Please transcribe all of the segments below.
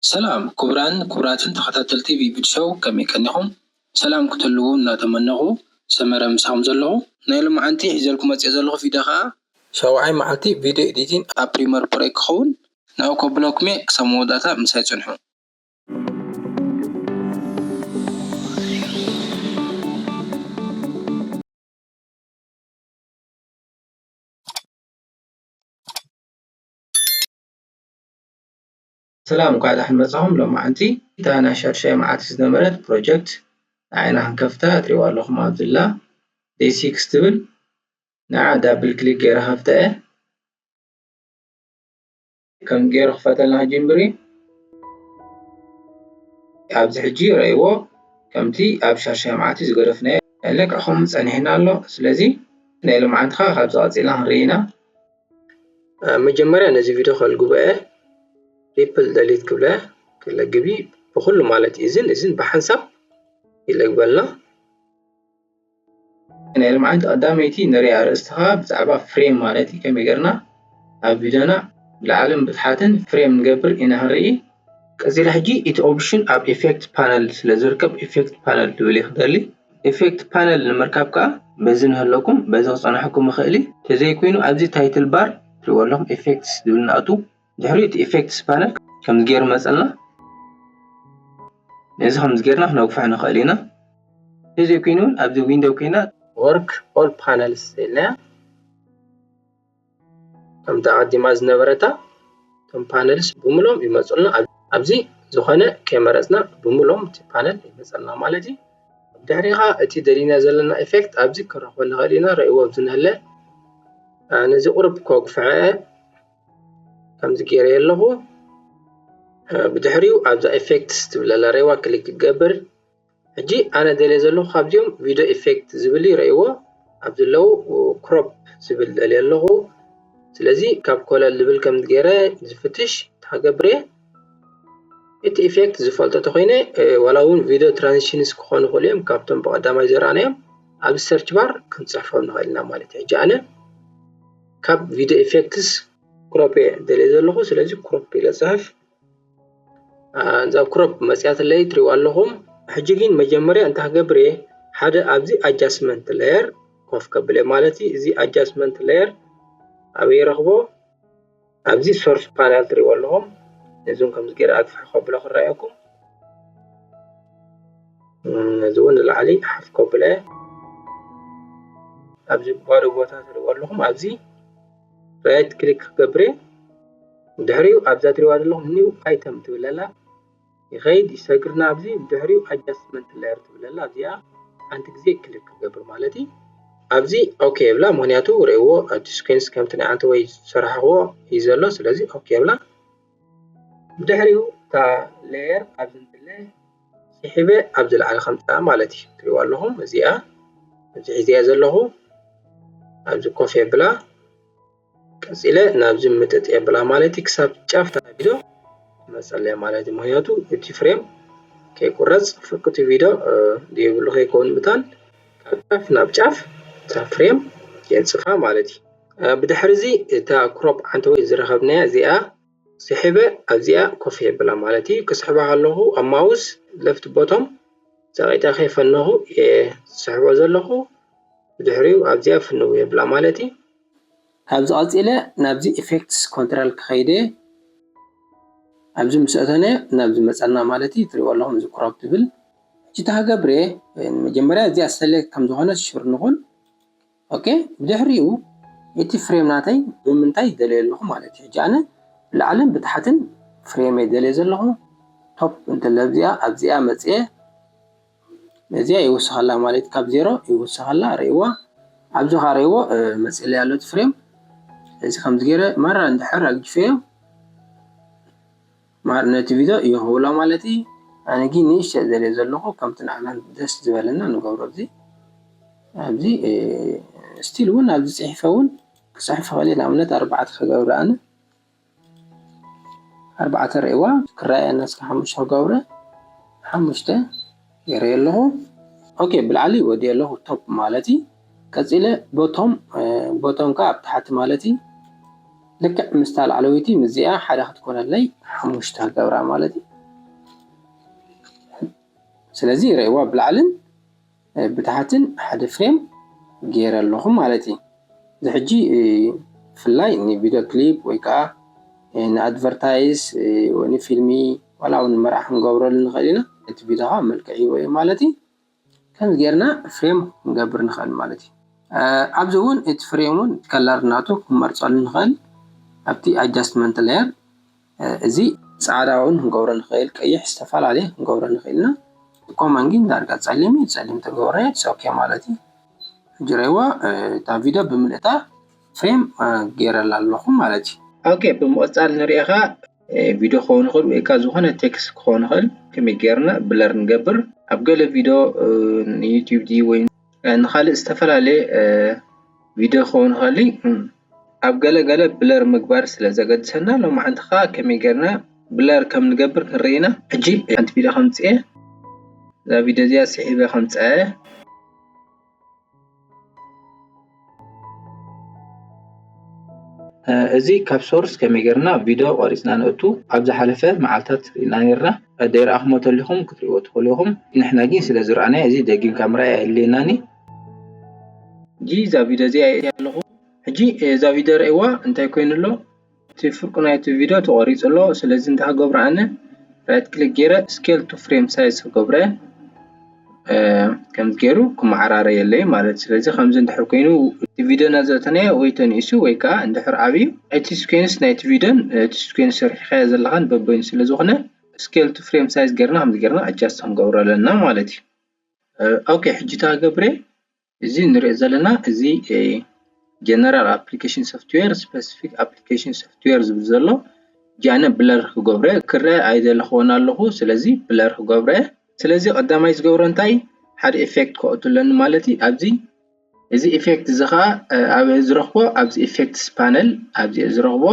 ሰላም ኩቡራን ኩቡራትን ተኸታተልቲ ቪብድ ሸው ከመይ ቀኒኹም ሰላም ክትህልዉ እናተመነኹ ሰመረ ምሳኹም ዘለኹ። ናይ ሎምዓንቲ ሒዘልኩም መጺኤ ዘለኹ ቪድዮ ከኣ። ሻውዓይ መዓልቲ ቪድዮ ኤዲቲን ኣብ ፕሪመር ፕሮ ክኸውን። ናብኡ ከብለኩም'የ ክሳብ መወዳእታ ምሳይ ጽንሑ። ሰላም እንኳዕ ዳሕን መጻኹም ሎማዓንቲ እታ ናይ ሻድሻይ መዓልቲ ዝነበረት ፕሮጀክት ንዓይና ክንከፍታ ትሪእዋ ኣለኹም ኣብዚ ኣላ ዴይ ሲክስ ትብል ንዓ ዳብል ክሊክ ገይረ ከፍታ እየ ከም ገይሩ ክፈተልና ክጅምር እዩ ኣብዚ ሕጂ ረእይዎ ከምቲ ኣብ ሻሻይ መዓልቲ ዝገደፍናዮ ለክዕ ከምኡ ጸኒሕና ኣሎ ስለዚ ናይ ልምዓንትኻ ካብዚ ቀጺልና ክንርኢ ኢና መጀመርያ ነዚ ቪድዮ ከልግቦ እየ ሪፕል ደሊት ክብለ ክለግቢ ብኩሉ ማለት እዝን እዝን ብሓንሳብ ይለግበልና ናይ ልምዓት ቀዳመይቲ ንሪኣ ኣርእስቲ ከኣ ብዛዕባ ፍሬም ማለት እዩ ከመይ ጌርና ኣብ ቪድዮና ብላዕልን ብታሕትን ፍሬም ንገብር ኢና ክንርኢ ቀጺለ ሕጂ እቲ ኦፕሽን ኣብ ኢፌክት ፓነል ስለ ዝርከብ ኢፌክት ፓነል ትብል እየ ክደሊ ኢፌክት ፓነል ንምርካብ ከኣ በዚ ንህለኩም በዚ ክጸንሐኩም ይኽእል እዩ ተዘይኮይኑ ኣብዚ ታይትል ባር ትሪእዎ ኣለኹም ኢፌክትስ ዝብል ንኣቱ ድሕሪኡ እቲ ኢፌክትስ ፓነል ከምዚ ገይሩ መፀልና ነዚ ከምዚ ገይርና ክነግፍሖ ንኽእል ኢና እዚ ኮይኑ እውን ኣብዚ ዊንዶው ኮይና ወርክ ኦል ፓነልስ ኢልና ከምቲ ኣቐዲማ ዝነበረታ እቶም ፓነልስ ብምሎም ይመፁልና ኣብዚ ዝኾነ ከይመረፅና ብምሎም እቲ ፓነል ይመፀልና ማለት እዩ ድሕሪኻ እቲ ደሊና ዘለና ኢፌክት ኣብዚ ክረኽቦ ንኽእል ኢና ረእይዎ ኣብዚ ንህለ ነዚ ቁርብ ከጉፍዐ ከምዚ ገይረዮ ኣለኹ ብድሕሪኡ ኣብዛ ኢፌክትስ ትብል ኣላ ሬዋ ክሊክ ክገብር ሕጂ ኣነ ደልየ ዘለኹ ካብዚኦም ቪድዮ ኢፌክት ዝብል እዩ ረእይዎ ኣብ ዘለዉ ክሮፕ ዝብል ደልየ ኣለኹ ስለዚ ካብ ኮለል ዝብል ከም ገይረ ዝፍትሽ ተሃገብር እየ እቲ ኢፌክት ዝፈልጦ ተኮይነ ዋላ እውን ቪድዮ ትራንዚሽንስ ክኾኑ ይኽእሉ እዮም ካብቶም ብቐዳማይ ዘረኣናዮም ኣብ ሰርች ባር ክንፅሕፎም ንኽእል ኢና ማለት እዩ ሕጂ ኣነ ካብ ቪድዮ ኢፌክትስ ክሮፕ እየ ደልየ ዘለኹ ስለዚ ክሮፕ ኢለ ፅሕፍ እዛ ክሮፕ መፅያትለይ ትሪእዋ ኣለኹም ሕጂ ግን መጀመርያ እንታይ ክገብር እየ ሓደ ኣብዚ ኣጃስትመንት ለየር ኮፍ ከብል እየ ማለት እዩ እዚ ኣጃስትመንት ለየር ኣበይ ረኽቦ ኣብዚ ሶርስ ፓናል ትሪእዎ ኣለኹም ነዞም ከምዚ ገይረ ኣግፍሑ ከብሎ ክረኣየኩም እዚ እውን ንላዕሊ ሓፍ ከብሎ እየ ኣብዚ ባዶ ቦታ ትሪእዎ ኣለኹም ኣብዚ ራይት ክሊክ ክገብር እየ ድሕሪኡ ኣብዛ ትሪእዋ ዘለኹም ኒው ኣይተም ትብል ኣላ ይኸይድ ይሰግርና ኣብዚ ድሕሪኡ ኣጃስትመንት ላየር ትብል ኣላ ኣብዚኣ ሓንቲ ግዜ ክሊክ ክገብር ማለት እዩ ኣብዚ ኦኬ የብላ ምክንያቱ ርእዎ ኣብቲ ስኩንስ ከምቲ ናይ ዓንተ ወይ ዝሰራሕኽዎ እዩ ዘሎ ስለዚ ኦኬ የብላ ድሕሪኡ እታ ሌየር ኣብዚ እንትለ ስሒበ ኣብዚ ላዕሊ ከምጽኣ ማለት እዩ ትሪእዋ ኣለኹም እዚኣ ኣብዚ ሒዘያ ዘለኹ ኣብዚ ኮፍ የብላ ቀጺለ ናብዚ ምጥጥ የብላ ማለት እዩ ክሳብ ጫፍ ተናቢዶ መጸለያ ማለት እዩ ምክንያቱ እቲ ፍሬም ከይቁረጽ ፍርቁቲ ቪዶ ዘይብሉ ከይከውን ምታን ካብ ጫፍ ናብ ጫፍ እታ ፍሬም የንጽፋ ማለት እዩ ብድሕሪ እዚ እታ ክሮፕ ዓንተ ወይ ዝረኸብናያ እዚኣ ስሒበ ኣብዚኣ ኮፍ የብላ ማለት እዩ ክስሕባ ከለኹ ኣብ ማውስ ለፍት ቦቶም ጸቂጠ ከይፈነኹ እየ ዝስሕቦ ዘለኹ ብድሕሪኡ ኣብዚኣ ፍንው የብላ ማለት እዩ ካብዚ ቀጺለ ናብዚ ኢፌክትስ ኮንትራል ክኸይድ እየ ኣብዚ ምስ ኣተነ ናብዚ መጸና ማለት እዩ ትሪእዎ ኣለኹም እዚ ክሮፕ ትብል ሕጂ እታ ክገብር እየ መጀመርያ እዚኣ ሰሌክት ከም ዝኾነት ሹር ንኹን ኦኬ ብድሕሪኡ እቲ ፍሬም ናተይ ብምንታይ ደልዮ ኣለኹ ማለት እዩ ሕጂ ኣነ ብላዕልን ብታሕትን ፍሬመይ ደልየ ዘለኹ ቶፕ እንተለብዚኣ ኣብዚኣ መፅየ ነዚኣ ይውስኸላ ማለት ካብ ዜሮ ይውስኸላ ርእዋ ኣብዚ ካ ርእዎ መፅለ ያሎ እቲ ፍሬም እዚ ከምዚ ገይረ ማራ እንድሕር ኣግጅፈዮ ማር ነቲ ቪዶ እዩ ክብሎ ማለት እዪ ኣነ ግን ንእሽተይ ዘልዮ ዘለኩ ከምቲ ንዓና ደስ ዝበለና ንገብሮ እዚ ኣብዚ ስቲል እውን ኣብዚ ፅሒፈ እውን ክፅሕፍ ይክእል እየ ንኣብነት ኣርባዕተ ክገብረ ኣነ ኣርባዕተ ርእይዋ ክረኣየና እስከ ሓሙሽተ ክገብረ ሓሙሽተ ገይረዮ ኣለኹ ኦኬ ብላዕሊ ወዲየ ኣለኹ ቶፕ ማለት እዩ ቀፂለ ቦቶም ቦቶም ከዓ ኣብ ታሕቲ ማለት እዩ ልክዕ ምስታ ላዕለወይቲ ምዚኣ ሓደ ክትኮነለይ ሓሙሽተ ክገብራ ማለት እዩ ስለዚ ረእዋ ብላዕልን ብታሕትን ሓደ ፍሬም ገይረ ኣለኹ ማለት እዩ ንሕጂ ብፍላይ ንቪድዮ ክሊፕ ወይ ከኣ ንኣድቨርታይዝ ወይ ንፊልሚ ዋላ ውን ንመርዓ ክንገብረሉ ንኽእል ኢና። እቲ ቪድዮ ከኣ መልክዕ ሂብዎ እዩ ማለት እዩ። ከምዚ ጌርና ፍሬም ክንገብር ንኽእል ማለት እዩ። ኣብዚ ውን እቲ ፍሬም ውን ከለር ናቱ ክንመርጸሉ ንኽእል ኣብቲ ኣጃስትመንት ለየር። እዚ ጻዕዳ ውን ክንገብሮ ንክእል ቀይሕ ዝተፈላለየ ክንገብሮ ንክእል ኢና ኮማን ግን ዳርጋ ጸሊም እዩ ጸሊም ተገብረ ኢትስ ኦኬ ማለት እዩ ሕጂ ረይዋ እታ ቪድዮ ብምልእታ ፍሬም ገይረላ ኣለኹ ማለት እዩ ኦኬ ብምቕጻል ንርእኻ ቪድዮ ክኸውን ይኽእል ወይ ከኣ ዝኾነ ቴክስት ክኸውን ይኽእል ከመይ ጌርና ብለር ንገብር ኣብ ገለ ቪድዮ ንዩቲዩብ ድዩ ወይ ንኻልእ ዝተፈላለየ ቪድዮ ክኸውን ይኽእል እዩ ኣብ ገለ ገለ ብለር ምግባር ስለ ዘገድሰና ሎምዓንቲ ከኣ ከመይ ጌርና ብለር ከም ንገብር ክንርኢ ኢና። ሕጂ ሓንቲ ቪድዮ ከምጽእ እየ እዛ ቪድዮ እዚኣ ስሒበ ከምጽኣ እየ። እዚ ካብ ሶርስ ከመይ ጌርና ቪድዮ ቆሪጽና ነእቱ ኣብ ዝሓለፈ መዓልታት ርኢና ኔርና ደይረኣክሞ ተሊኩም ክትሪእዎ ትክእሉ ኢኩም ንሕና ጊን ስለ ዝረኣናዮ እዚ ደጊምካ ምርኣይ ኣየድልየናን እዩ። ሕጂ እዛ ቪድዮ እዚኣ ሪኤያ ኣለኹ ሕጂ እዛ ቪድዮ ሪኤዋ እንታይ ኮይኑ ኣሎ እቲ ፍርቁ ናይቲ ቪድዮ ተቖሪፁ ኣሎ ስለዚ እንታይ ክገብሮ ኣነ ራይት ክሊክ ገይረ ስኬል ቱ ፍሬም ሳይዝ ክገብሮ እየ ከምዚ ገይሩ ክመዓራረየለይ ማለት እዩ ስለዚ ከምዚ እንድሕር ኮይኑ እቲ ቪድዮ እና ዘእተናዮ ወይ ተንኢሱ ወይ ከዓ እንድሕር ዓብዩ እቲ ስኬንስ ናይቲ ቪድዮን እቲ ስኬንስ ሰሪሕኻዮ ዘለኻን በበይኑ ስለዝኾነ ስኬል ቱ ፍሬም ሳይዝ ገይርና ከምዚ ገይርና ኣጃስት ክንገብሮ ኣለና ማለት እዩ። ኦኬ ሕጂ እታ ገብሬ እዚ ንሪኦ ዘለና እዚ ጀነራል ኣፕሊኬሽን ሶፍትዌር ስፐሲፊክ ኣፕሊኬሽን ሶፍትዌር ዝብል ዘሎ ሕጂ ኣነ ብለር ክገብሮ እየ ክርአ ኣይደለኹዎን ኣለኹ ስለዚ ብለር ክገብሮ እየ ስለዚ ቀዳማይ ዝገብሮ እንታይ ሓደ ኢፌክት ከእቱ ኣለኒ ማለት እዩ ኣብዚ እዚ ኢፌክት እዚ ኸዓ ኣበይ ዝረኽቦ ኣብዚ ኢፌክትስ ፓነል ኣብዚ እየ ዝረኽቦ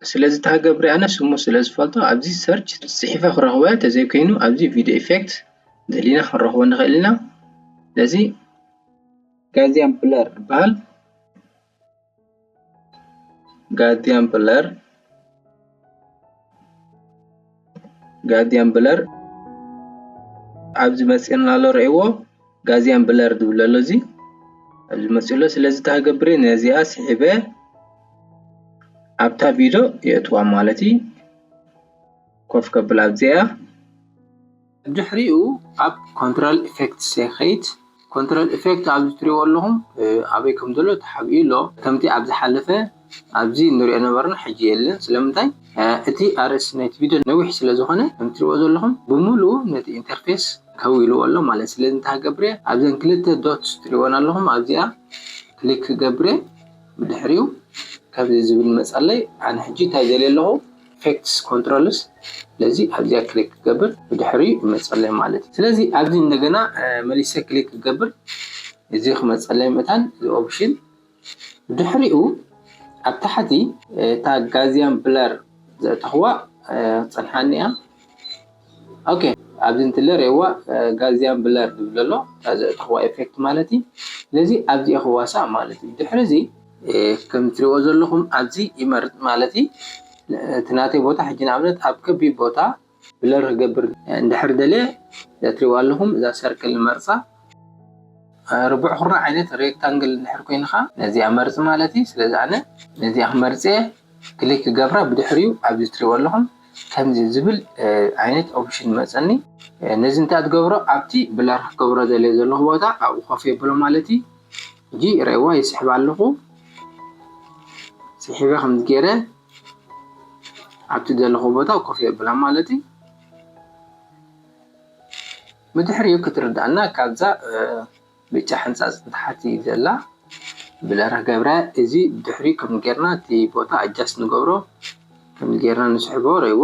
ስለዚ እታ ገብሪ ኣነ ስሙ ስለ ዝፈልጦ ኣብዚ ሰርች ጽሒፈ ክረኽቦ እያ ተዘይኮይኑ ኣብዚ ቪድዮ ኢፌክት ደሊና ክንረኽቦ ንኽእል ኢና ስለዚ ጋዚያን ብለር ይበሃል ጋዚያን ብለር ጋርድያን ብለር ኣብዚ መፂኡና ኣሎ ርእይዎ ጋርድያን ብለር ዝብል ኣሎ እዚ ኣብዚ መፂኡ ኣሎ ስለዚ እንታይ ክገብር እየ ነዚኣ ስሒበ ኣብታ ቪድዮ የእትዋ ማለት እዩ ኮፍ ከብላ ኣብዚኣ ድሕሪኡ ኣብ ኮንትሮል ኢፌክትስ ይኸይድ። ኮንትሮል ኢፌክት ኣብዚ እትሪእዎ ኣለኹም ኣበይ ከም ዘሎ ተሓቢኡ ኣሎ። ከምቲ ኣብ ዝሓለፈ ኣብዚ እንሪኦ ዝነበርና ሕጂ የለን። ስለምንታይ እቲ ኣርእስቲ ናይቲ ቪድዮ ነዊሕ ስለ ዝኾነ ከም እትሪእዎ ዘለኹም ብምሉኡ ነቲ ኢንተርፌስ ከዊልዎ ኣሎ ማለት እዩ። ስለዚ እንታይ ክገብር እየ ኣብዘን ክልተ ዶትስ እትሪእወን ኣለኹም ኣብዚኣ ክሊክ ክገብር እየ። ብድሕሪኡ ከምዚ ዝብል ይመፅኣለይ። ኣነ ሕጂ እንታይ ይደሊ ኣለኹ? ኢፌክትስ ኮንትሮልስ ስለዚ ኣብዚኣ ክሊክ ክገብር ብድሕሪኡ ይመፀለይ ማለት እዩ ስለዚ ኣብዚ እንደገና መሊሰ ክሊክ ክገብር እዚ ክመፀለይ መታን እዚ ኦፕሽን ብድሕሪኡ ኣብ ታሕቲ እታ ጋዝያን ብለር ዘእተኽዋ ክፀንሓኒ እያ ኦኬ ኣብዚ እንትለ ሬዋ ጋዝያን ብለር ዝብለሎ እታ ዘእተኽዋ ኤፌክት ማለት እዩ ስለዚ ኣብዚ ክዋሳእ ማለት እዩ ድሕሪ እዚ ከም እትሪእዎ ዘለኹም ኣብዚ ይመርጽ ማለት እዩ። እቲ ናተይ ቦታ ሕጂ ንኣብነት ኣብ ከቢብ ቦታ ብለር ክገብር እንድሕር ደልየ እዛ እትሪእዋ ኣለኹም እዛ ሰርክል ንመርጻ። ርቡዕ ኩርናዕ ዓይነት ሬክታንግል እንድሕር ኮይኑ ከኣ ነዚኣ መርጽ ማለት እዩ። ስለዚ ኣነ ነዚኣ ክመርጽ እየ ክሊክ ክገብራ ብድሕሪኡ ኣብዚ እትሪእዎ ኣለኹም ከምዚ ዝብል ዓይነት ኦፕሽን ይመጸኒ። ነዚ እንታይ እያ ትገብሮ ኣብቲ ብለር ክገብሮ ደልየ ዘለኹ ቦታ ኣብኡ ኮፍ የብሎ ማለት እዩ። ሕጂ ሪኤዋ ይስሕብ ኣለኹ ስሒበ ከምዚ ገይረ ኣብቲ ዘለኹ ቦታ ኮፍ የብላ ማለት እዩ ብድሕሪኡ ክትርዳእና ካብዛ ብጫ ሕንፃፅ ንታሕቲ ዘላ ብለራ ገብረ እዚ ብድሕሪኡ ከም ጌርና እቲ ቦታ ኣጃስ ንገብሮ ከም ጌርና ንስሕቦ ረይዎ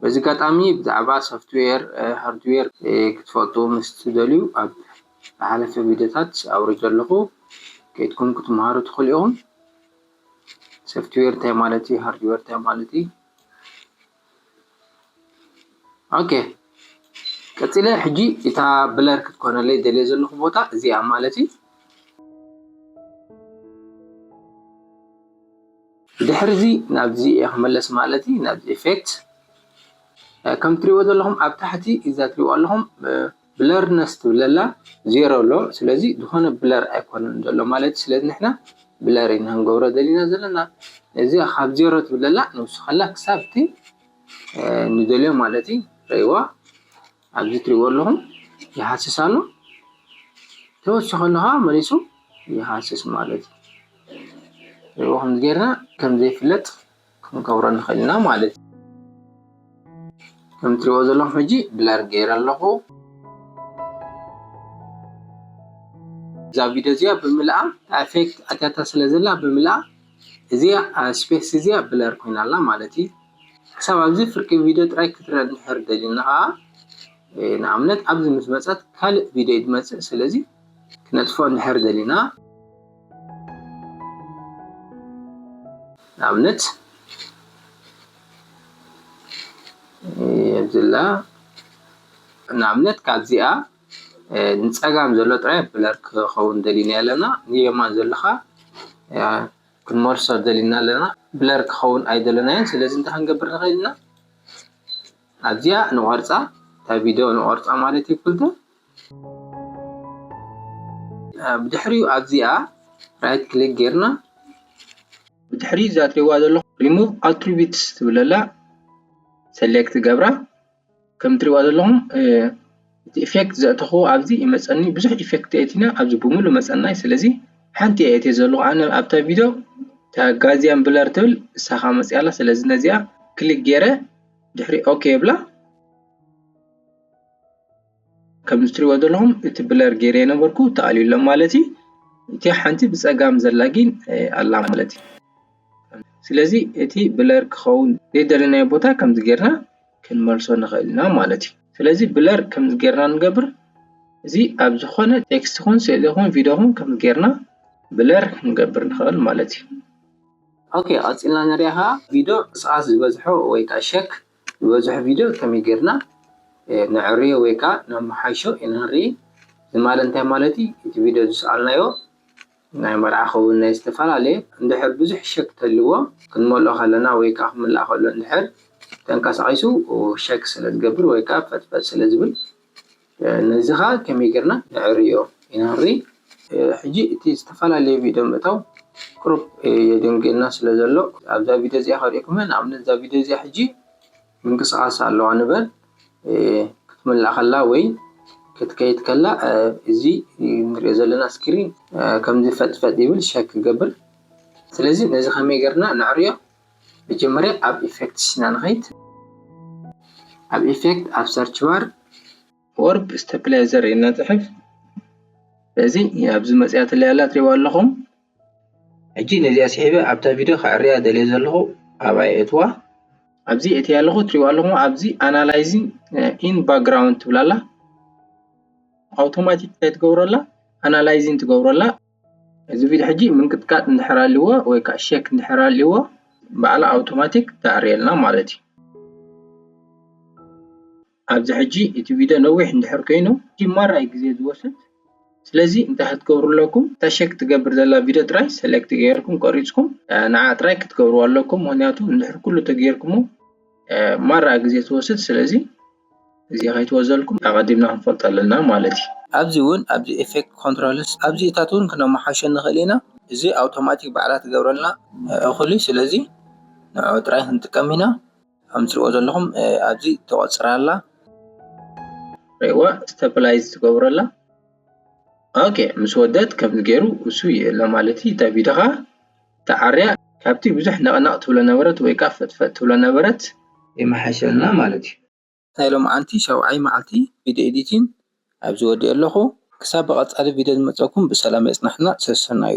በዚ ኣጋጣሚ ብዛዕባ ሶፍትዌር፣ ሃርድዌር ክትፈልጡ ምስ ትደልዩ ኣብ ዝሓለፈ ቪድዮታት ኣውሪደ ኣለኹ ከይድኩም ክትመሃሩ ትኽእሉ ኢኹም። ሶፍትዌር እንታይ ማለት እዩ፣ ሃርድዌር እንታይ ማለት እዩ። ኦኬ ቀጺለ ሕጂ እታ ብለር ክትኮነለይ ደልየ ዘለኹ ቦታ እዚኣ ማለት እዩ። ድሕሪ እዚ ናብዚ እየ ክምለስ ማለት እዩ ናብዚ ኤፌክት ከም ትሪእዎ ዘለኹም ኣብ ታሕቲ እዛ ትሪእዎ ኣለኹም ብለርነስ ትብል ኣላ ዜሮ ኣሎ ስለዚ ዝኾነ ብለር ኣይኮነን ዘሎ ማለት ስለዚ ንሕና ብለር ኢና ክንገብሮ ደሊና ዘለና እዚ ካብ ዜሮ ትብል ኣላ ንውስኸላ ክሳብቲ ንደልዮ ማለት እዩ ረይዋ ኣብዚ እትሪእዎ ኣለኹም ይሃስስ ኣሎ ተወሲኹ ኣሎ ከዓ መሊሱ ይሃስስ ማለት እዩ ሪእዎ ከምዚ ጌርና ከምዘይፍለጥ ክንገብሮ ንኽእል ኢና ማለት እዩ ከም እትሪእዎ ዘለኹም ሕጂ ብለር ገይረ ኣለኹ እዛ ቪድዮ እዚኣ ብምልኣ ኣፌክት ኣትያታ ስለ ዘላ ብምልኣ እዚኣ ስፔስ እዚኣ ብለር ኮይና ኣላ ማለት እዩ ክሳብ ኣብዚ ፍርቂ ቪድዮ ጥራይ ክትሪኢ እንድሕር ደሊና ከኣ ንኣብነት ኣብዚ ምስ መጸት ካልእ ቪድዮ እዩ ዝመጽእ ስለዚ ክነጥፍኦ እንድሕር ደሊና ንኣብነት የብዝላ ንኣብነት ካብዚኣ ንጸጋም ዘሎ ጥራይ ብለር ክኸውን ደሊና ኣለና ንየማን ዘለኻ ክንመልሶ ደሊና ኣለና ብለር ክኸውን ኣይደለናዮን ስለዚ እንታይ ክንገብር ንኽእል ኢና ኣብዚኣ ንቆርጻ እታ ቪድዮ ንቆርጻ ማለት እዩ ኩልተ ብድሕሪኡ ኣብዚኣ ራይት ክሊክ ጌርና ብድሕሪ እዛ ትሪእዋ ዘለኹም ሪሙቭ ኣትሪቢትስ ትብለላ ሰሌክት ገብራ ከም ትሪእዋ ዘለኹም እቲ ኢፌክት ዘእተኽዎ ኣብዚ ይመፀኒ ብዙሕ ኢፌክት የእቲና ኣብዚ ብምሉእ መፀናይ ስለዚ ሓንቲ እየ እትየ ዘለኹ ኣነ ኣብታ ቪድዮ እታ ጋዝያን ብለር ትብል እሳ ኻዓ መፂኣ ኣላ ስለዚ ነዚኣ ክሊክ ገይረ ድሕሪ ኦኬ ይብላ። ከምዚ ትሪእዎ ዘለኹም እቲ ብለር ገይረዮ ነበርኩ ተኣልዩ ኣሎ ማለት እዩ እቲ ሓንቲ ብፀጋም ዘላ ግን ኣላ ማለት እዩ ስለዚ እቲ ብለር ክኸውን ዘይደለናዮ ቦታ ከምዚ ጌርና ክንመልሶ ንኽእል ኢና ማለት እዩ ስለዚ ብለር ከምዚ ጌርና ንገብር እዚ ኣብ ዝኾነ ቴክስት ኹን ስእሊ ኹን ቪድዮ ኹን ከምዚ ጌርና ብለር ክንገብር ንኽእል ማለት እዩ ኦኬ ቀፂልና ንሪኣ ከዓ ቪድዮ ሰዓት ዝበዝሖ ወይ ከዓ ሸክ ዝበዝሑ ቪድዮ ከመይ ጌርና ነዕርዮ ወይ ከኣ ነመሓይሾ ኢና ንርኢ። እዚ ማለ እንታይ ማለት እዩ? እቲ ቪድዮ ዝሰኣልናዮ ናይ መርዓ ክኸውን ናይ ዝተፈላለየ። እንድሕር ብዙሕ ሸክ ተልዎ ክንመልኦ ከለና ወይ ከኣ ክምላእ ከሎ እንድሕር ተንቀሳቒሱ ሸክ ስለ ዝገብር ወይ ከኣ ፈጥፈጥ ስለ ዝብል። ነዚ ከኣ ከመይ ጌርና ነዐርዮ ኢና ንርኢ። ሕጂ እቲ ዝተፈላለየ ቪድዮ ምእታው ቁሩብ የደንጉየና ስለ ዘሎ ኣብዛ ቪድዮ እዚኣ ከርእየኩም እየ። ንኣብነት እዛ ቪድዮ እዚኣ ሕጂ ምንቅስቓስ ኣለዋ ንበል ክትምላእ ከላ ወይ ክትከይድ ከላ እዚ ንርእዮ ዘለና ስክሪን ከምዚ ፈጥ ፈጥ ይብል ሸክ ክገብር ስለዚ ነዚ ከመይ ጌርና ነዕርዮ። መጀመርያ ኣብ ኢፈክትስ ኢና ንኸይድ ኣብ ኢፈክት ኣብ ሰርች ባር ወርብ ስተፕላይዘር ኢልና ንጽሕፍ በዚ ኣብዚ መጽያትለይ ኣላ ትሪእዋ ኣለኹም ሕጂ ነዚኣ ስሒበ ኣብታ ቪድዮ ከዕርያ ደልየ ዘለኹ ኣብኣ የእትዋ ኣብዚ የእትያ ኣለኹ ትሪእዋ ኣለኹም ኣብዚ ኣናላይዚን ኢን ባክግራውንድ ትብላ ኣላ ኣውቶማቲክ እንታይ ትገብሮ ኣላ ኣናላይዚን ትገብሮ ኣላ እዚ ቪድዮ ሕጂ ምንቅጥቃጥ እንድሕር ኣልዎ ወይ ከዓ ሸክ እንድሕር ኣልዎ ባዕላ ኣውቶማቲክ ተዕርየልና ማለት እዩ ኣብዚ ሕጂ እቲ ቪድዮ ነዊሕ እንድሕር ኮይኑ ማራይ ግዜ ዝወስድ ስለዚ እንታይ ክትገብሩ ኣለኩም እታ ሸክ ትገብር ዘላ ቪድዮ ጥራይ ሰሌክት ገይርኩም ቆሪፅኩም ንዓ ጥራይ ክትገብርዎ ኣለኩም ምክንያቱ እንድሕር ኩሉ ተገይርኩሞ ማራ ግዜ ትወስድ ስለዚ እዚ ከይትወዘልኩም ኣቐዲምና ክንፈልጦ ኣለና ማለት እዩ። ኣብዚ እውን ኣብዚ effect controls ኣብዚ እታት እውን ክነመሓሾ ንኽእል ኢና እዚ ኣውቶማቲክ ባዕላ ትገብረልና እኹል እዩ ስለዚ ንዕዑ ጥራይ ክንጥቀም ኢና ከም ትሪእዎ ዘለኹም ኣብዚ ተቖፅራ ኣላ ሪእዋ stabilize ትገብሮ ኣላ ኦኬ ምስ ወደት ከምዚ ገይሩ እሱ ይእለ ማለት እዩ እንታይ ቢድኻ ተዓርያ ካብቲ ብዙሕ ነቕነቕ ትብሎ ነበረት ወይ ከኣ ፈጥፈጥ ትብሎ ነበረት ይመሓሸልና ማለት እዩ። ናይ ሎምዓንቲ ሻውዓይ መዓልቲ ቪድዮ ኤዲቲን ኣብዚ ወዲኤ ኣለኹ ክሳብ ብቐጻሊ ቪድዮ ዝመጸኩም ብሰላም የጽንሓና ሰሰናዩ።